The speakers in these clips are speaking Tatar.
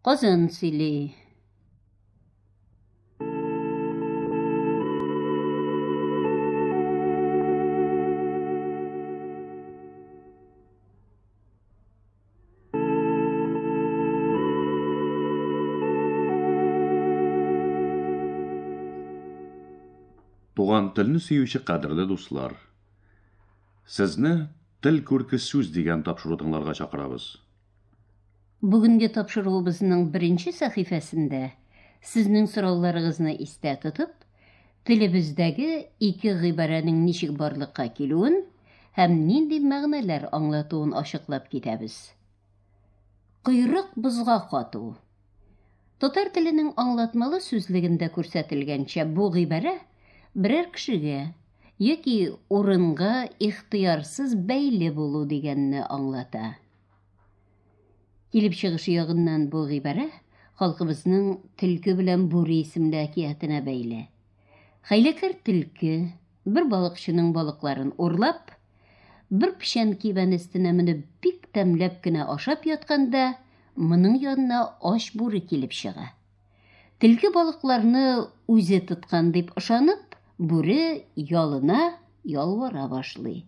Казан сөйли. Туган телне сөюче кадерле дуслар. Сезне Тел күрке сүз дигән тапшыру тыңларга чакырабыз. Бүгенге тапшыруыбызның беренче сәхифәсендә сезнең сорауларыгызны истә тотып, телебездәге ике гыйбарәнең ничек барлыкка килүен һәм нинди мәгънәләр аңлатуын ачыклап китәбез. Койрык бозга кату. Татар теленең аңлатмалы сүзлегендә күрсәтелгәнчә, бу гыйбарә берәр кешегә яки урынга ихтыярсыз бәйле булу дигәнне аңлата. Килеп чыгышы ягыннан бу гыйбарә халкыбызның Төлке белән Бүре исемле әкиятенә бәйле. Хәйләкәр Төлке, бер балыкчының балыкларын урлап, бер печән кибән өстенә менеп бик тәмләп кенә ашап ятканда, моның янына ач Бүре килеп чыга. Төлке балыкларны үзе тоткан дип ышанып, Бүре ялына, ялвара башлый.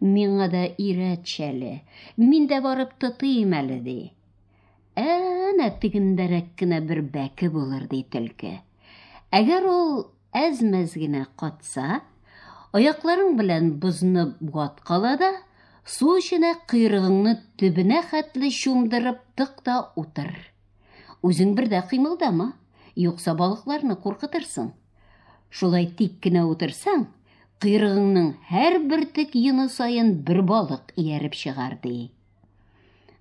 Миңа да өйрәтче әле, мин дә барып тотыйм әле, ди. Әнә тегендәрәк кенә бер бәке булыр, ди төлке. Әгәр ул әз-мәз генә катса, аякларың белән бозны ваткала да, су эченә койрыгыңны төбенә хәтле чумдырып тык та утыр. Үзең бер дә кыймылдама, юкса балыкларны куркытырсың. Шулай тик кенә утырсаң, кыйрыгыңның һәр бер тек йоны саен бер балык ияреп чыгар, ди.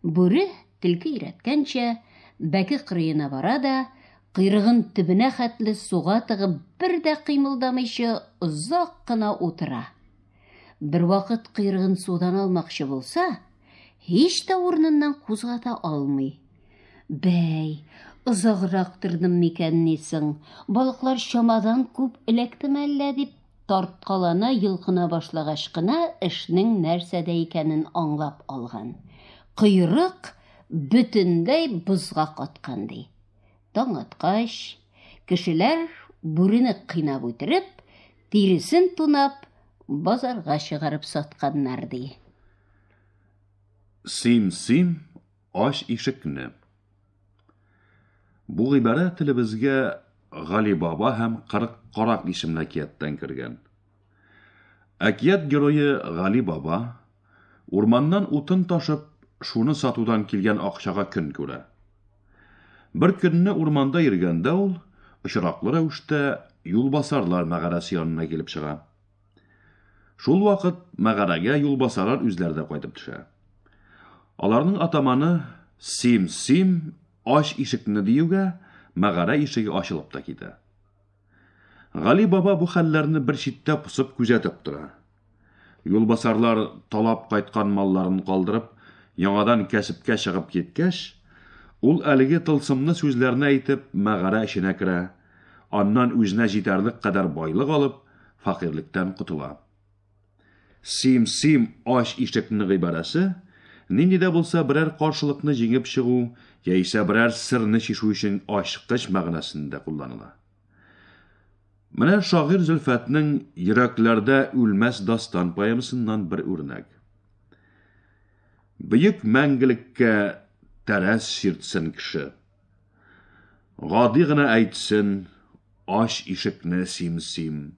Бүре телке өйрәткәнчә, бәке кырыена бара да, кыйрыгын төбенә хәтле суга тыгып, бер дә кыймылдамыйча озак кына утыра. Бервакыт кыйрыгын судан алмакчы булса, һич тә урыныннан кузгата алмый. Бәй, озаграк тордым микән нисең? Балыклар чамадан күп эләктеме әллә дип тарткалана йолкына башлагач кына эшнең нәрсәдә икәнен аңлап алган. Койрык бөтенләй бозга каткан ди. Таң аткач, кешеләр бүрене кыйнап үтереп, тиресен тунап, базарга чыгарып сатканнар, ди. Сим-сим ач ишекне. Бу гыйбарә телебезгә Гали баба һәм 40 карак исемле әкияттән кергән. Әкият герое Гали баба, урманнан утын ташып, шуны сатудан килгән акчага көн күрә. Бер көнне урманда йөргәндә ул, очраклы рәвештә, юлбасарлар мәгарәсе янына килеп чыга. Шул вакыт мәгарәгә юлбасарар үзләре дә кайтып төшә. Аларның атаманы Сим, сим, ач ишекне диюгә, мәгарә ишеге ачылып та китә. Гали баба бу хәлләрне бер читтә посып күзәтеп тора. Юлбасарлар талап кайткан малларын калдырып, яңадан кәсепкә чыгып киткәч, ул әлеге тылсымны сүзләрне әйтеп, мәгарә эченә керә, аннан үзенә җитәрлек кадәр байлык алып, фәкыйрьлектән котыла. Сим-сим ач ишекне гыйбарәсе, нинди дә булса берәр каршылыкны җиңеп чыгу яисә берәр сырны чишү өчен ачкыч мәгънәсендә кулланыла. Менә шагыйрь Зөлфәтнең Йөрәкләрдә үлмәс дастан поэмасыннан бер үрнәк. Бөек мәңгелеккә тәрәз чиртсен кеше. Гади гына әйтсен, ач ишекне сим-сим.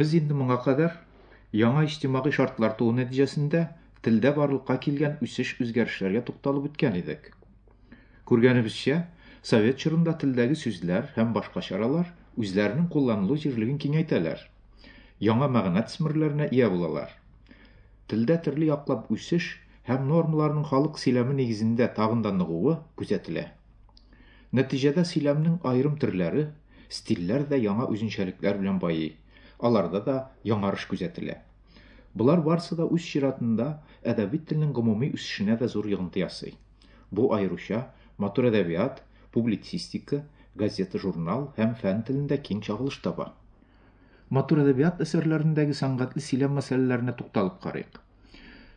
Без инде моңа кадәр яңа иҗтимагый шартлар туу нәтиҗәсендә телдә барлыкка килгән үсеш-үзгәрешләргә тукталып үткән идек. Күргәнебезчә, совет чорында телдәге сүзләр һәм башка чаралар үзләренең кулланылу җирлеген киңәйтәләр, яңа мәгънә тсмерләренә ия булалар. Телдә төрле яклап үсеш һәм нормаларның халык сөйләме нигезендә тагын да ныгуы күзәтелә. Нәтиҗәдә сөйләмнең аерым төрләре, стильләр дә яңа үзенчәлекләр белән байый. Аларда да яңарыш күзәтелә. Болар барысы да үз чиратында әдәби телнең гомуми үсешенә дә зур йогынты ясый. Бу аеруча матур әдәбият, публицистика, газета-журнал һәм фән телендә киң чагылыш таба. Матур әдәбият әсәрләрендәге сәнгатьле сөйләм мәсьәләләренә тукталып карыйк.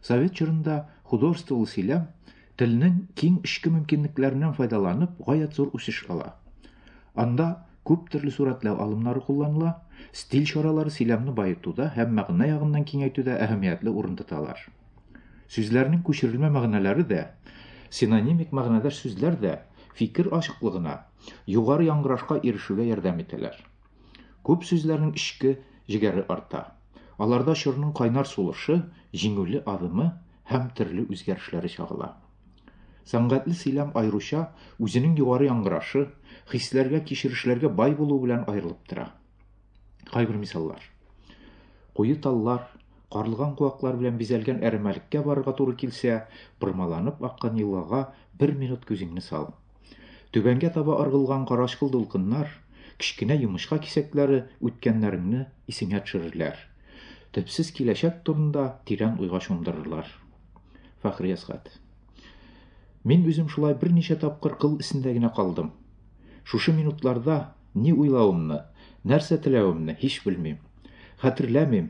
Совет чорында художестволы сөйләм телнең киң эчке мөмкинлекләреннән файдаланып гаять зур үсеш ала. Анда күп төрле сурәтләү алымнары кулланыла, стиль чаралары сөйләмне баетуда һәм мәгънә ягыннан киңәйтүдә әһәмиятле урын тоталар. Сүзләрнең күчерелмә мәгънәләре дә, синонимик мәгънәдәш сүзләр дә фикер ачыклыгына, югары яңгырашка ирешүгә ярдәм итәләр. Күп сүзләрнең эчке җегәре арта. Аларда чорның кайнар сулышы, җиңүле адымы һәм төрле үзгәрешләре чагыла. Сәнгатьле сөйләм аеруча үзенең югары яңгырашы, хисләргә, кичерешләргә бай булу белән аерылып тора. Кайбер мисаллар. Куе таллар, карлыган куаклар белән бизәлгән әрәмәлеккә барырга туры килсә, пырмаланып аккан елгага бер минут күзеңне сал. Түбәнгә таба ыргылган карачкыл дулкыннар, кечкенә йомычка кисәкләре үткәннәреңне исеңә төшерерләр, төпсез киләчәк турында тирән уйга чумдырырлар. Фәхри Әсгать. Мин үзем шулай берничә тапкыр кыл эсендә генә калдым. Шушы минутларда ни уйлавымны, нәрсә теләвемне һич белмим. Хәтерләмим.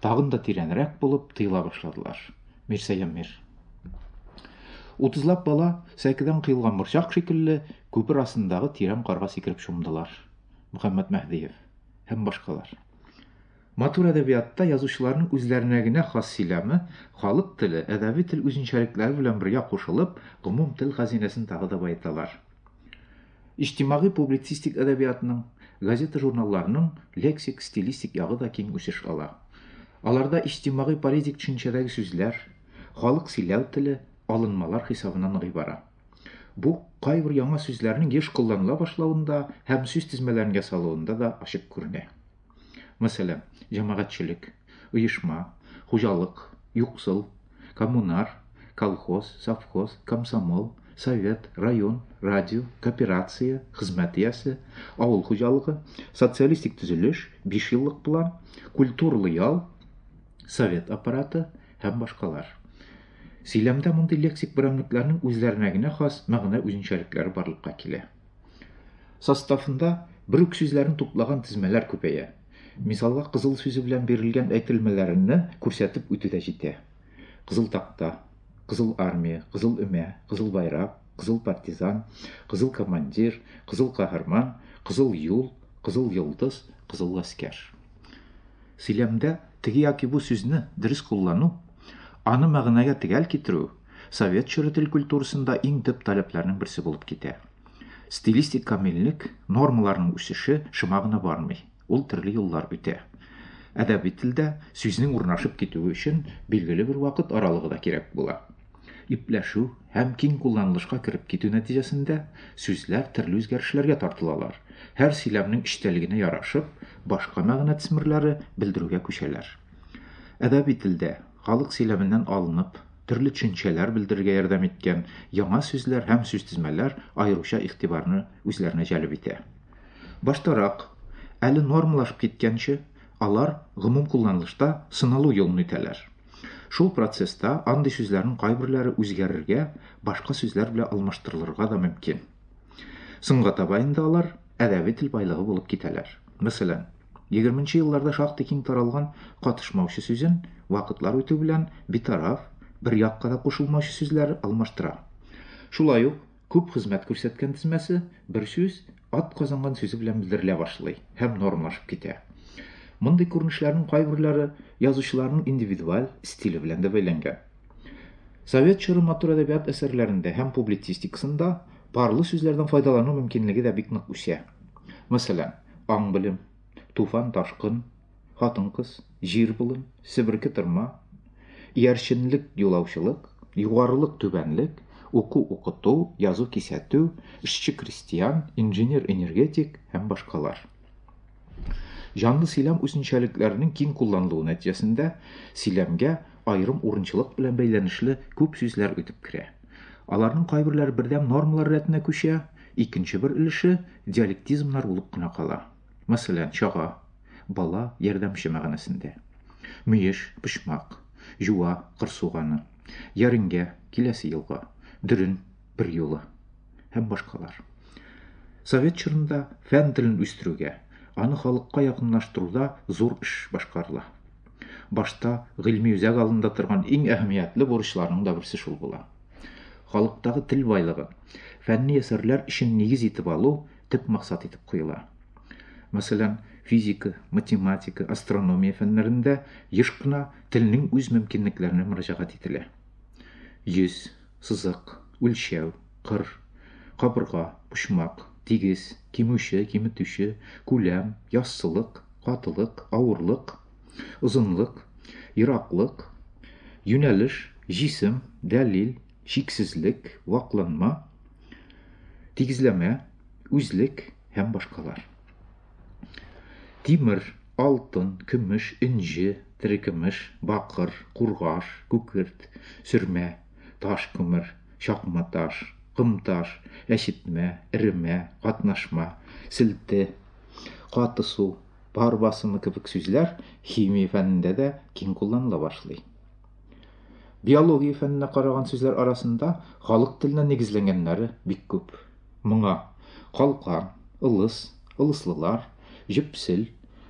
Тагын да тирәнрәк булып тыела башладылар. Мирсәям мир. Утызлап бала сәкедән кыйлган борчак шикелле күпер астындагы тирән карга сикереп чумдылар. Мөхәммәт Мәһдиев һәм башкалар. Матур әдәбиятта язучыларның үзләренә генә хас сөйләме, халык теле, әдәби тел үзенчәлекләре белән бергә кушылып, гомум тел хәзинәсен тагы да баеталар. Иҗтимагый публицистик әдәбиятның, газета-журналларның лексик-стилистик ягы да киң үсеш ала. Аларда иҗтимагый-политик төшенчәдәге сүзләр, халык сөйләү теле алынмалар хисабына ныгый бара. Бу кайбер яңа сүзләрнең еш кулланыла башлавында һәм сүз тезмәләрен ясалуында да ачык күренә. Мәсәлән, җәмәгатьчелек, оешма, хуҗалык, юксыл, коммунар, колхоз, совхоз, комсомол, совет, район, радио, кооперация, хезмәт иясе, авыл хуҗалыгы, социалистик төзелеш, бишьеллык план, культурлы ял, совет аппараты һәм башкалар. Сөйләмдә мондый лексик берәмлекләрнең үзләренә генә хас мәгънә үзенчәлекләре барлыкка килә. Составында бер үк сүзләрне туплаган тезмәләр күпәя. Мисалга кызыл сүзе белән бирелгән әйтелмәләрне күрсәтеп үтү дә җитә. Кызыл такта, кызыл армия, кызыл өмә, кызыл байрак, кызыл партизан, кызыл командир, кызыл каһарман, кызыл юл, кызыл йолдыз, кызыл гаскәр. Сөйләмдә теге яки бу сүзне дөрес куллану, аны мәгънәгә төгәл китерү, совет чоры тел культурасында иң төп таләпләрнең берсе булып китә. Стилистик камиллек нормаларның үсеше шома гына бармый. Ул төрле юллар үтә. Әдәби телдә сүзнең урнашып китүе өчен билгеле бер вакыт аралыгы да кирәк була. Ипләшү һәм киң кулланылышка кереп китү нәтиҗәсендә сүзләр төрле үзгәрешләргә тартылалар. Һәр сөйләмнең эчтәлегенә ярашып, башка мәгънә тсмерләре белдерүгә күчәләр. Әдәби телдә Халык сөйләменнән алынып, төрле төшенчәләр белдерергә ярдәм иткән яңа сүзләр һәм сүзтезмәләр аеруча игътибарны үзләренә җәлеп итә. Баштарак, әле нормалашып киткәнче, алар гомум кулланылышта сыналу юлын үтәләр. Шул процесста андый сүзләрнең кайберләре үзгәрергә, башка сүзләр белән алмаштырылырга да мөмкин. Соңга таба инде алар әдәби тел байлыгы булып китәләр. Мәсәлән, 20 елларда шактый киң таралган катышмаучы сүзен вакытлар үтү белән битараф, бер якка да кушылмаучы сүзләр алмаштыра. Шулай ук күп хезмәт күрсәткән тезмәсе бер сүз ат казанган сүзе белән белдерелә башлый һәм нормалашып китә. Мондый күренешләрнең кайберләре язучыларның индивидуаль стиле белән дә бәйләнгән. Совет чоры матур әдәбият әсәрләрендә һәм публицистикасында парлы сүзләрдән файдалану мөмкинлеге дә бик нык үсә. Мәсәлән, аң белем, туфан ташкын, хатын кыз, җир болын, себерке тырма, иярченлек юлаучылык, югарылык түбәнлек, уку укыту, язу кисәтү, эшче крестьян, инженер энергетик һәм башкалар. Җанлы сөйләм үзенчәлекләренең киң кулланылуы нәтиҗәсендә сөйләмгә аерым урынчылык белән бәйләнешле күп сүзләр үтеп керә. Аларның кайберләре бердәм нормалар рәтенә күчә, икенче бер өлеше диалектизмнар булып кына кала. Мәсәлән, чага, бала, ярдәмче мәгънәсендә. Мөеш, почмак, җуа, кыр суганы, яреңгә, киләсе елга, дөрен, бер юлы һәм башкалар. Совет чорында фән телен үстерүгә, аны халыкка якынлаштыруда зур эш башкарыла. Башта гыйльми үзәк алдында торган иң әһәмиятле бурычларның да берсе шул була. Халыктагы тел байлыгы, фәнни әсәрләр өчен нигез итеп алу төп максат итеп куела. Мәсәлән, физика, математика, астрономия фәннәрендә еш кына телнең үз мөмкинлекләренә мөрәҗәгать ителә. 100 сызык, үлчәү, кыр, кабырга, почмак, тигез, кимүче, киметүче, күләм, яссылык, катылык, авырлык, озынлык, ераклык, юнәлеш, җисем, дәлил, чиксезлек, вакланма, тигезләмә, үзлек һәм башкалар. Тимер, алтын, көмеш, энҗе, терекөмеш, бакыр, кургаш, күкерт, сөрмә, таш күмер, чакма таш, ком таш, әчетмә, эремә, катнашма, селте, каты су, пар басымы кебек сүзләр химия фәнендә дә киң кулланыла башлый. Биология фәненә караган сүзләр арасында халык теленә нигезләнгәннәре бик күп. Моңа калкан, ылыс, ылыслылар, җөпсел,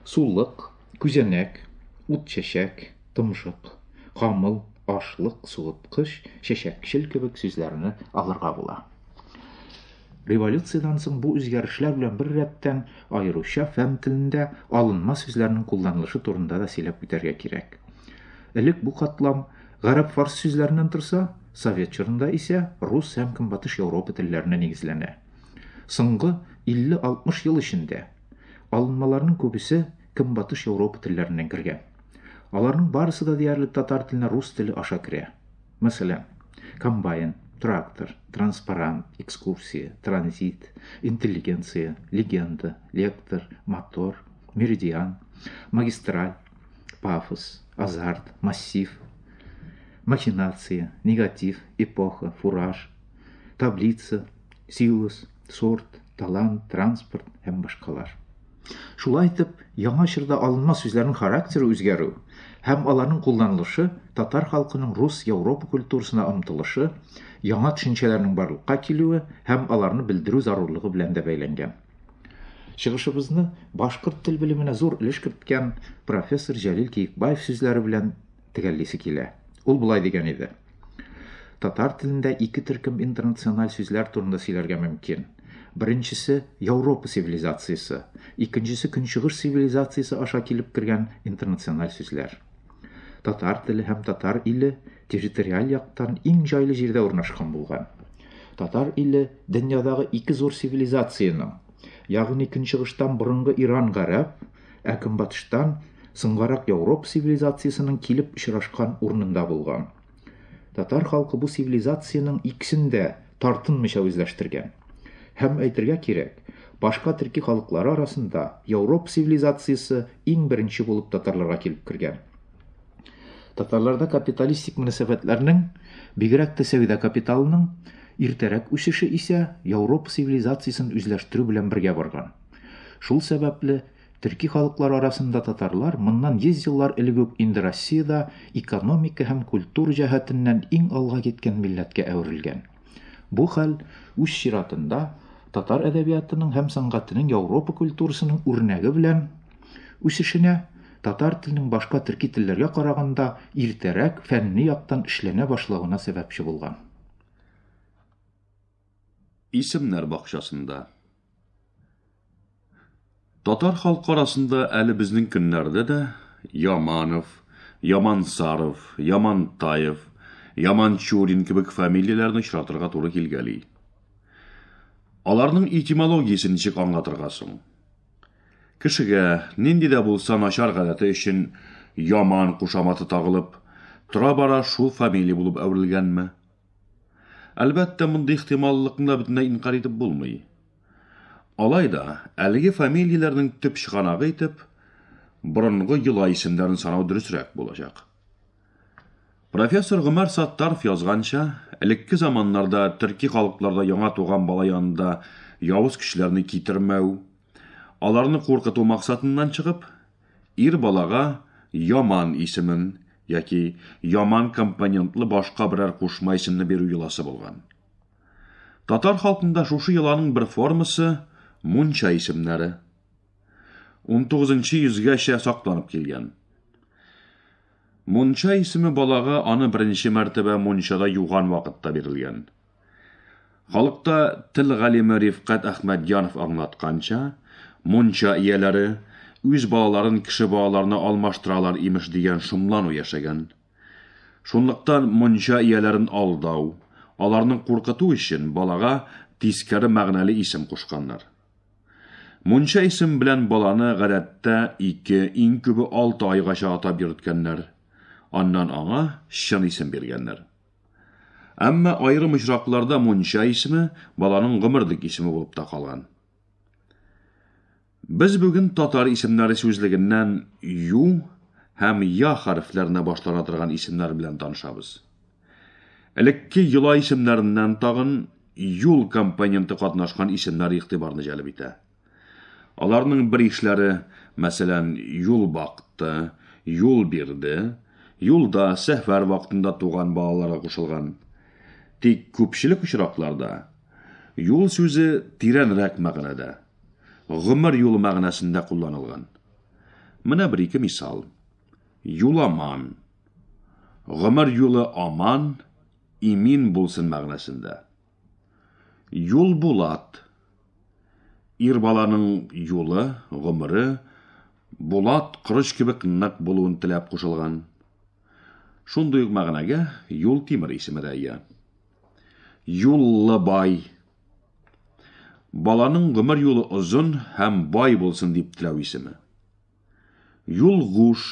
сулык, күзәнәк, ут чәчәк, томшык, камыл, ашлык, суыткыч, чәчәкчел кебек сүзләрне алырга була. Революциядән соң бу үзгәрешләр белән бер рәттән аеруча фән телендә алынма сүзләрнең кулланылышы турында да сөйләп үтәргә кирәк. Элек бу катлам гарәп-фарс сүзләреннән торса, совет чорында исә рус һәм көнбатыш Европа телләренә нигезләнә. Соңгы 50-60 ел эчендә алынмаларның күбесе көнбатыш Европа телләреннән кергән. Аларның барысы да диярлек татар теленә рус теле аша керә. Мәсәлән, комбайн, трактор, транспарант, экскурсия, транзит, интеллигенция, легенда, лектор, мотор, меридиан, магистраль, Пафос, азарт, массив, махинация, негатив, эпоха, фураж, таблица, силус, сорт, талант, транспорт һәм башкалар. Шулай итеп, яңа чорда алынма сүзләрнең характеры үзгәрү һәм аларның кулланылышы татар халкының рус Европа культурасына омтылышы, яңа төшенчәләрнең барлыкка килүе һәм аларны белдерү зарурлыгы белән дә бәйләнгән. Чыгышыбызны башкорт тел белеменә зур өлеш керткән профессор Җәлил Киекбаев сүзләре белән төгәллисе килә. Ул болай дигән иде. Татар телендә ике төркем интернациональ сүзләр турында сөйләргә мөмкин. Беренчесе Европа цивилизациясе, икенчесе Көнчыгыш цивилизациясе аша килеп кергән интернациональ сүзләр. Татар теле һәм татар иле территориаль яктан иң җайлы җирдә урнашкан булган. Татар иле дөньядагы ике зур цивилизациянең, ягъни көнчыгыштан борынгы Иран-Гарәп, ә көнбатыштан соңгарак Яуроп цивилизациясенең килеп очрашкан урынында булган. Татар халкы бу цивилизациянең иксен дә тартынмыйча үзләштергән. Һәм әйтергә кирәк, башка төрки халыклары арасында Европ цивилизациясе иң беренче булып татарларга килеп кергән. Татарларда капиталистик мөнәсәбәтләрнең, бигрәк тә сәүдә капиталының иртәрәк үсеше исә Европ цивилизациясен үзләштерү белән бергә барган. Шул сәбәпле Төрки халыклар арасында татарлар моннан 100 еллар элек үк инде Россиядә экономика һәм культур җәһәтеннән иң алга киткән милләткә әверелгән. Бу хәл, үз чиратында, татар әдәбиятының һәм сәнгатенең Яуропа культурасының үрнәге белән үсешенә, татар теленең башка төрки телләргә караганда иртәрәк фәнни яктан эшләнә башлавына сәбәпче булган. Исемнәр бакчасында. Татар халкы арасында әле безнең көннәрдә дә Яманов, Ямансаров, Ямантаев, Яманчурин кебек фамилияләрне очратырга туры килгәли. Аларның этимологиясе ничек аңлатырга соң? Кешегә нинди дә булса начар гадәте өчен Яман кушаматы тагылып, тора-бара шул фамилия булып әверелгәнме? Әлбәттә, мондый ихтималлыкны да бөтенләй инкарь итеп булмый. Алай да, әлеге фамилияләрнең төп чыганагы итеп, борынгы йола исемнәрен санау дөресрәк булачак. Профессор Гомәр Саттаров язганча, элекке заманнарда төрки халыкларда яңа туган бала янында явыз кешеләрне китермәү, аларны куркыту максатыннан чыгып, Ир балага яман исемен яки яман компонентлы башка берәр кушма исемне бирү йоласы булган. Татар халкында шушы йоланың бер формасы, мунча исемнәре. Унтугызынчы йөзгәчә сакланып килгән. Мунча исеме балага аны беренче мәртәбә мунчада юган вакытта бирелгән. Халыкта тел галиме Рифкать Әхмәтҗанов аңлатканча, мунча ияләре, үз балаларын кеше балаларына алмаштыралар, имеш, дигән шомлану яшәгән. Шунлыктан мунча ияләрен алдау, аларны куркыту өчен балага тискәре мәгънәле исем кушканнар. Мунча исеме белән баланы, гадәттә, ике, иң күбе алты айгача атап йөрткәннәр. Аннан аңа чын исем биргәннәр. Әмма аерым очракларда мунча исеме баланың гомерлек исеме булып та калган. Без бүген татар исемнәре сүзлегеннән ю һәм я хәрефләренә башлана торган исемнәр белән танышабыз. Элекке йола исемнәреннән тагын юл компоненты катнашкан исемнәр игътибарны җәлеп итә. Аларның бер ишләре, мәсәлән, юл бакты, юл бирде, юлда, сәфәр вакытында туган балаларга кушылган. Тик күпчелек очракларда юл сүзе тирәнрәк мәгънәдә, гомер юлы мәгънәсендә кулланылган. Менә бер ике мисал. Юламан. Гомер юлы аман, имин булсын мәгънәсендә. Юлбулат. Ир баланың юлы, гомере, булат корыч кебек нык булуын теләп кушылган. Шундый ук мәгънәгә Юлтимер исеме дә ия. Юллы бай. Баланың гомер юлы озын һәм бай булсын дип теләү исеме. Юлгуш,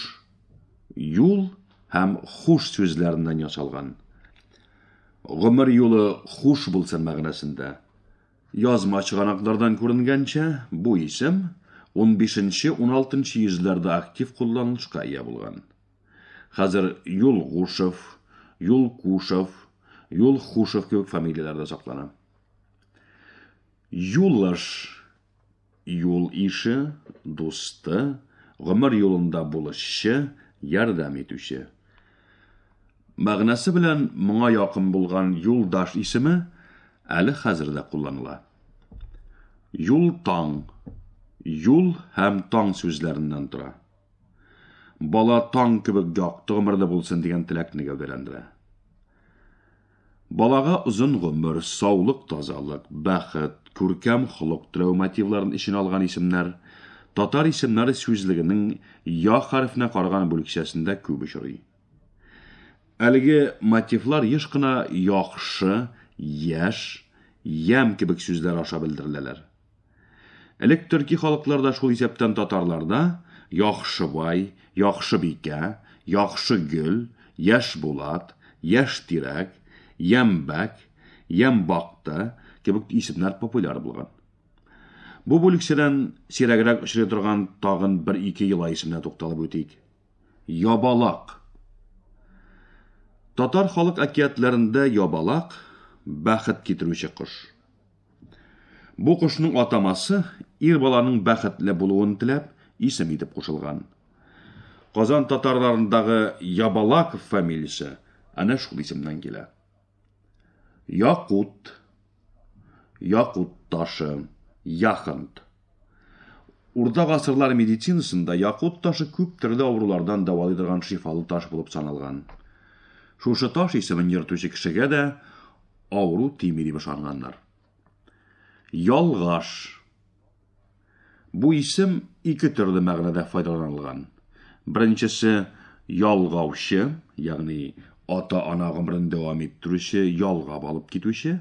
юл һәм хуш сүзләреннән ясалган. Гомер юлы хуш булсын мәгънәсендә. Язма чыганаклардан күренгәнчә, бу исем 15-16 йөзләрдә актив кулланылышка ия булган. Хәзер Юлгушев, Юлкушев, Юлхушев кебек фамилияләр дә саклана. Юлыш, Юл ише, дусты, гомер юлында булышчы, ярдәм итүче. Мәгънәсе белән моңа якын булган юлдаш исеме әле хәзер дә кулланыла. Юл таң, юл һәм таң сүзләреннән тора. Бала таң кебек якты гомерле булсын дигән теләкне гәүдәләндерә. Балага озын гомер, саулык, тазалык, бәхет, күркәм холык теләү мотивларын эченә алган исемнәр Татар исемнәр сүзлегенең я хәрефенә караган бүлекчәсендә күп очрый. Әлеге мотивлар еш кына яхшы, яшь, ямь кебек сүзләр аша белдереләләр. Элек төрки халыкларда, шул исәптән татарларда Яхшыбай, Яхшыбикә, Яхшыгөл, Яшбулат, Яшьтирәк, Ямбәк, Ямбакты кебек исемнәр популяр булган. Бу бүлекчәдән сирәгрәк очрый торган тагын бер-ике йола исеменә тукталып үтик. Ябалак. Татар халык әкиятләрендә ябалак, бәхет китерүче кош. Бу кошның атамасы, ир баланың бәхетле булуын теләп, исем итеп кушылган. Казан татарларындагы Ябалаков фамилиясе әнә шул исемнән килә. Якут, якут ташы, яхонт. Урта гасырлар медицинасында якут ташы күп төрле авырулардан дәвалый торган шифалы таш булып саналган. Шушы таш исемен йөртүче кешегә дә авыру тими дип ышанганнар. Ялгаш. Бу исем ике төрле мәгънәдә файдаланылган. Беренчесе ялгаучы, ягъни ата-ана гомерен дәвам иттерүче, ялгап алып китүче.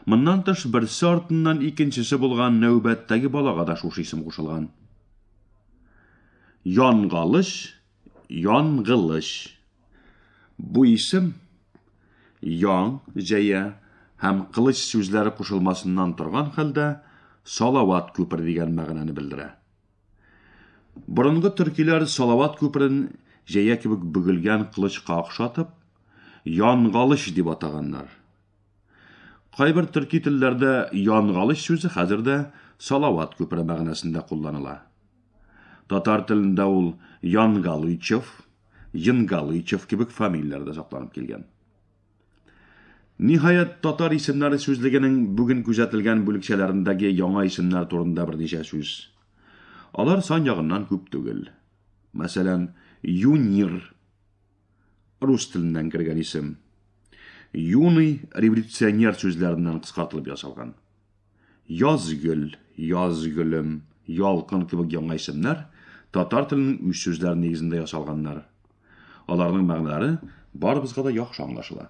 Моннан тыш, берсе артыннан икенчесе булган нәүбәттәге балага да шушы исем кушылган. Янгалыч, янгылыч. Бу исем ян, җәя һәм кылыч сүзләре кушылмасыннан торган хәлдә Салават күпер дигән мәгънәне белдерә. Борынгы төркиләр Салават күперен җәя кебек бөгелгән кылычка охшатып, Янгалыч дип атаганнар. Кайбер төрки телләрдә янгалыч сүзе хәзер дә салават күпере мәгънәсендә кулланыла. Татар телендә ул Янгалычев, Енгалычев кебек фамилияләрдә сакланып килгән. Ниһаять, татар исемнәре сүзлегенең бүген күзәтелгән бүлекчәләрендәге яңа исемнәр турында берничә сүз. Алар сан ягыннан күп түгел. Мәсәлән, юнир рус теленнән кергән исем. Юный революционер сүзләреннән кыскартылып ясалган. Язгөл, язгөлем, ялкын кебек яңа исемнәр татар теленең үз сүзләре нигезендә ясалганнар. Аларның мәгънәләре барыбызга да яхшы аңлашыла.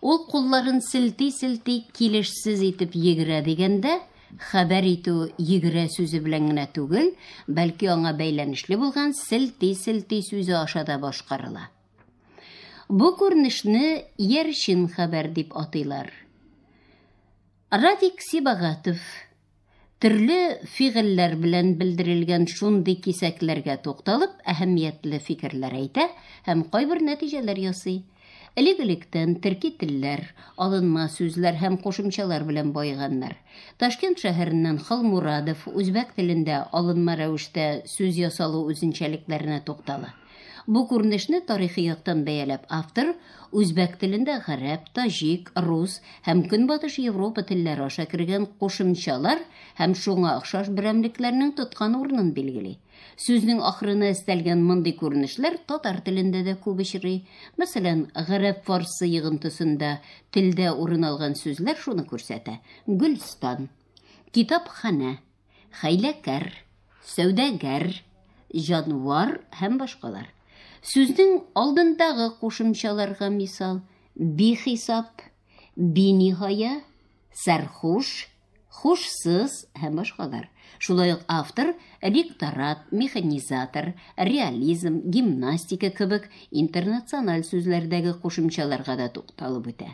Ул кулларын селти-селти килешсез итеп йөгерә дигәндә, хәбәр итү йөгерә сүзе белән генә түгел, бәлки аңа бәйләнешле булган селти-селти сүзе аша да башкарыла. Бу күренешне иярчен хәбәр дип атыйлар. Радик Сибагатов Төрле фигыльләр белән белдерелгән шундый кисәкләргә тукталып, әһәмиятле фикерләр әйтә һәм кайбер нәтиҗәләр ясый. Элек-электән төрки телләр, алынма сүзләр һәм кушымчалар белән баеганнар. Ташкент шәһәреннән Халмурадов үзбәк телендә алынма рәвештә сүз ясалу үзенчәлекләренә туктала. Бу күренешне тарихи яктан бәяләп автор үзбәк телендә гарәп, таҗик, рус һәм Көнбатыш Европа телләре аша кергән кушымчалар һәм шуңа охшаш берәмлекләрнең тоткан урынын билгели. Сүзнең ахырына өстәлгән мондый күренешләр татар телендә дә күп очрый. Мәсәлән, гарәп-фарсы йыгынтысында телдә урын алган сүзләр шуны күрсәтә, Гөлстан. Китапханә. Хәйләкәр, сәүдәгәр, җанвар һәм башкалар. Сүзнең алдындагы кушымчаларга мисал, бихисап, биниһая, сәрхуш, хушсыз һәм башкалар. Шулай ук автор ректорат, механизатор, реализм, гимнастика кебек интернациональ сүзләрдәге кушымчаларга да тукталып үтә.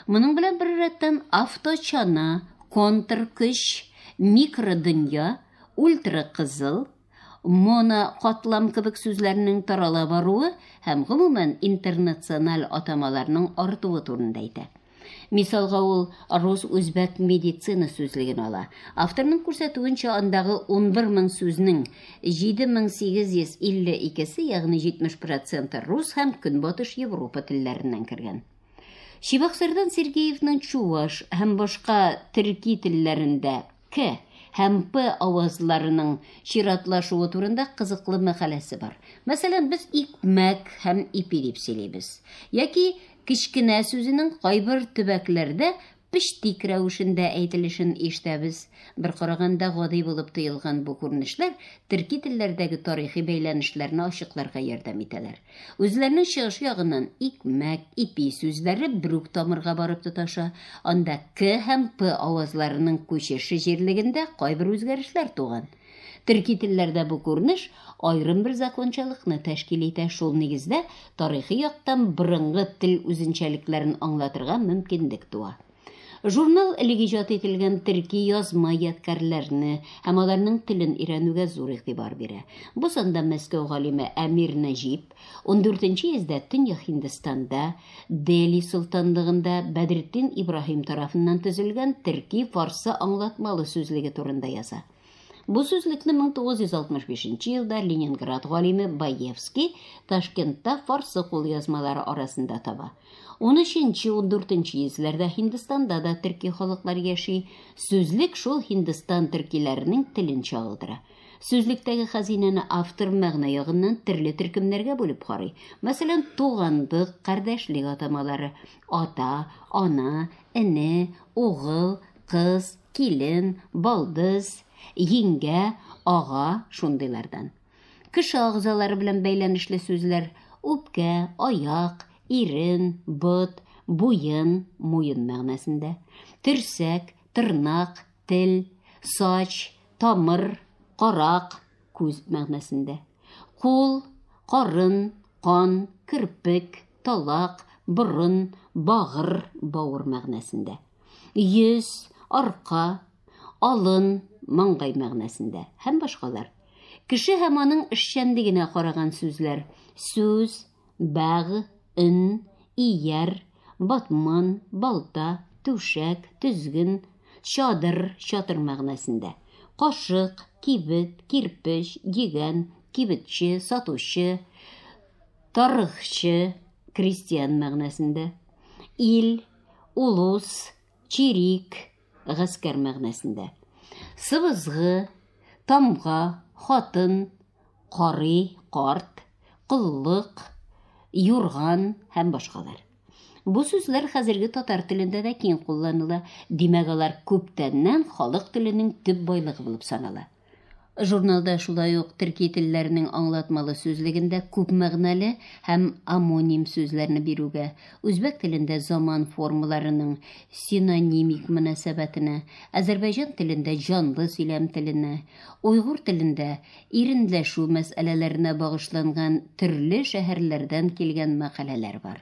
Моның белән бер рәттән авточана, контркөч, микродөнья, ультракызыл, монокатлам кебек сүзләрнең тарала баруы һәм гомумән интернациональ атамаларның артуы турында әйтә. Мисалга ул рус-үзбәк медицина сүзлеген ала. Авторның күрсәтүенчә, андагы 11 мең сүзнең 7852-се, ягъни 70 проценты рус һәм Көнбатыш Европа телләреннән кергән. Чебоксардан Сергеевның чуваш һәм башка төрки телләрендә К һәм П авазларының чиратлашуы турында кызыклы мәкаләсе бар. Мәсәлән, без икмәк һәм ипи дип сөйлибез. Яки кечкенә сүзенең кайбер төбәкләрдә пештик рәвешендә әйтелешен ишетәбез. Бер караганда гади булып тоелган бу күренешләр төрки телләрдәге тарихи бәйләнешләрне ачыкларга ярдәм итәләр. Үзләренең чыгышы ягыннан икмәк, ипи сүзләре берүк тамырга барып тоташа, анда к һәм п авазларының күчеше җирлегендә кайбер үзгәрешләр туган. Төрки телләрдә бу күренеш аерым бер закончалыкны тәшкил итә, шул нигездә тарихи яктан борынгы тел үзенчәлекләрен аңлатырга мөмкинлек туа. Журнал элек иҗат ителгән төрки язма ядкарьләрне һәм аларның телен өйрәнүгә зур игътибар бирә. Бу санда Мәскәү галиме Әмир Нәҗип, 14 йөздә Төньяк Һиндстанда, Дели солтанлыгында Бәдретдин Ибраһим тарафыннан төзелгән төрки-фарсы аңлатмалы сүзлеге турында яза. Бу сүзлекне 1965 елда Ленинград галиме Баевский Ташкентта фарсы кулъязмалары арасында таба. 13-14 йөзләрдә Һиндстанда да төрки халыклар яши. Сүзлек шул Һиндстан төркиләренең телен чагылдыра. Сүзлектәге хәзинәне автор мәгънә ягыннан төрле төркемнәргә бүлеп карый. Мәсәлән, туганлык, кардәшлек атамалары, ата, ана, эне, угыл, кыз, килен, балдыз, йиңгә, ага, шундыйлардан. Кеше агъзалары белән бәйләнешле сүзләр, үпкә, аяк, ирен, бот, буен, муен мәгънәсендә, төрсәк, тырнак, Тел, сач, тамыр, карак, күз мәгънәсендә. Кул, карын, кан, кирпек, талак, борын, багыр, бауыр мәгънәсендә. Йөз, арка, алын, маңгай мәгънәсендә һәм башкалар. Кеше һәм аның эшчәнлегенә караган сүзләр. Сүз, Бәг, н, ияр, батман, балта, түшәк, тезген, чадыр, чатыр мәгънәсендә. Кашык, кибет, кирпеч, дигән, кибетче, сатучы, тарыхчы, крестьян мәгънәсендә. Ил, улус, чирик, Гаскәр мәгънәсендә. Сыбызгы, тамга, хатын, карый, карт, коллык, юрган һәм башкалар. Бу сүзләр хәзерге татар телендә дә киң кулланыла, димәк алар күптәннән халык теленең төп байлыгы булып санала. Журналда шулай ук төрки телләрнең аңлатмалы сүзлегендә күп мәгънәле һәм омоним сүзләрне бирүгә, үзбәк телендә заман формаларының синонимик мөнәсәбәтенә, азәрбайҗан телендә җанлы сөйләм теленә, уйгур телендә иренләшү мәсьәләләренә багышланган төрле шәһәрләрдән килгән мәкаләләр бар.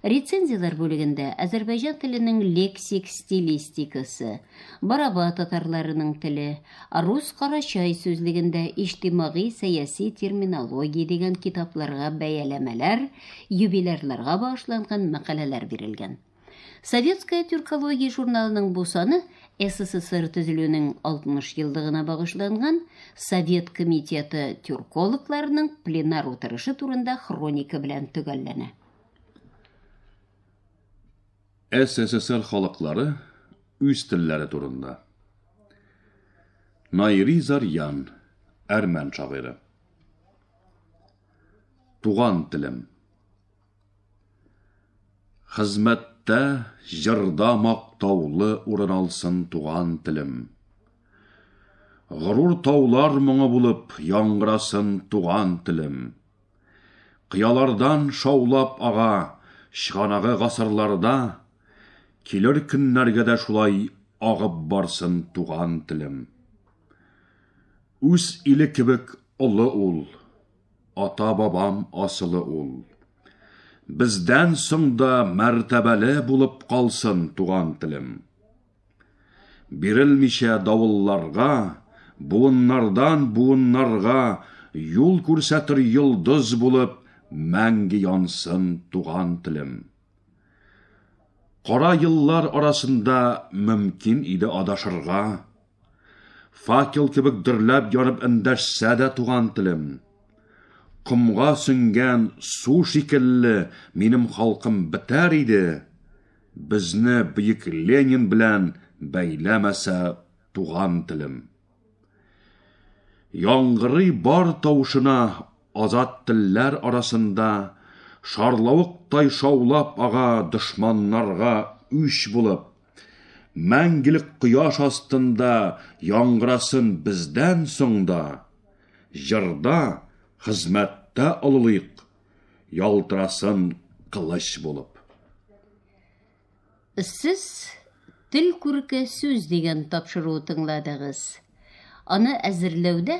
Рецензияләр бүлегендә азәрбайҗан теленең лексик стилистикасы, Бараба татарларының теле, Рус Карачай сүзлегендә иҗтимагый-сәяси терминология дигән китапларга бәяләмәләр, юбилярларга багышланган мәкаләләр бирелгән. Советская тюркология журналының бу саны СССР төзелүнең 60 еллыгына багышланган Совет комитеты тюркологларының пленар утырышы турында хроника белән төгәлләнә. СССР халыклары үз телләре турында. Найри Зарьян, әрмән шагыйре. Туган телем. Хезмәттә, җырда мактаулы урын алсын туган телем. Горур таулар моңы булып яңгырасын туган телем. Кыялардан шаулап ага чыганагы гасырларда, килер көннәргә дә шулай агып барсын туган телем. Үз иле кебек олы ул. ата-бабам асылы ул. Бездән соң да мәртәбәле булып калсын туган телем. Бирелмичә давылларга, буыннардан буыннарга юл күрсәтер йолдыз булып мәңге янсын туган телем. Кара еллар арасында мөмкин иде адашырга, Факел кебек дөрләп янып эндәшсә дә туган телем. Комга сеңгән су шикелле минем халкым бетәр иде. Безне бөек Ленин белән бәйләмәсә туган телем. Яңгырый бар тавышына азат телләр арасында шарлавыктай шаулап ага дошманнарга үч булып. Мәңгелек кояш астында яңгырасын бездән соң да, Җырда, хезмәттә олылыйк, ялтырасын кылыч булып. Сез Тел күрке сүз дигән тапшыруы тыңладыгыз. Аны әзерләүдә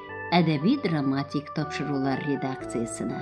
әдәби-драматик тапшырулар редакциясенә.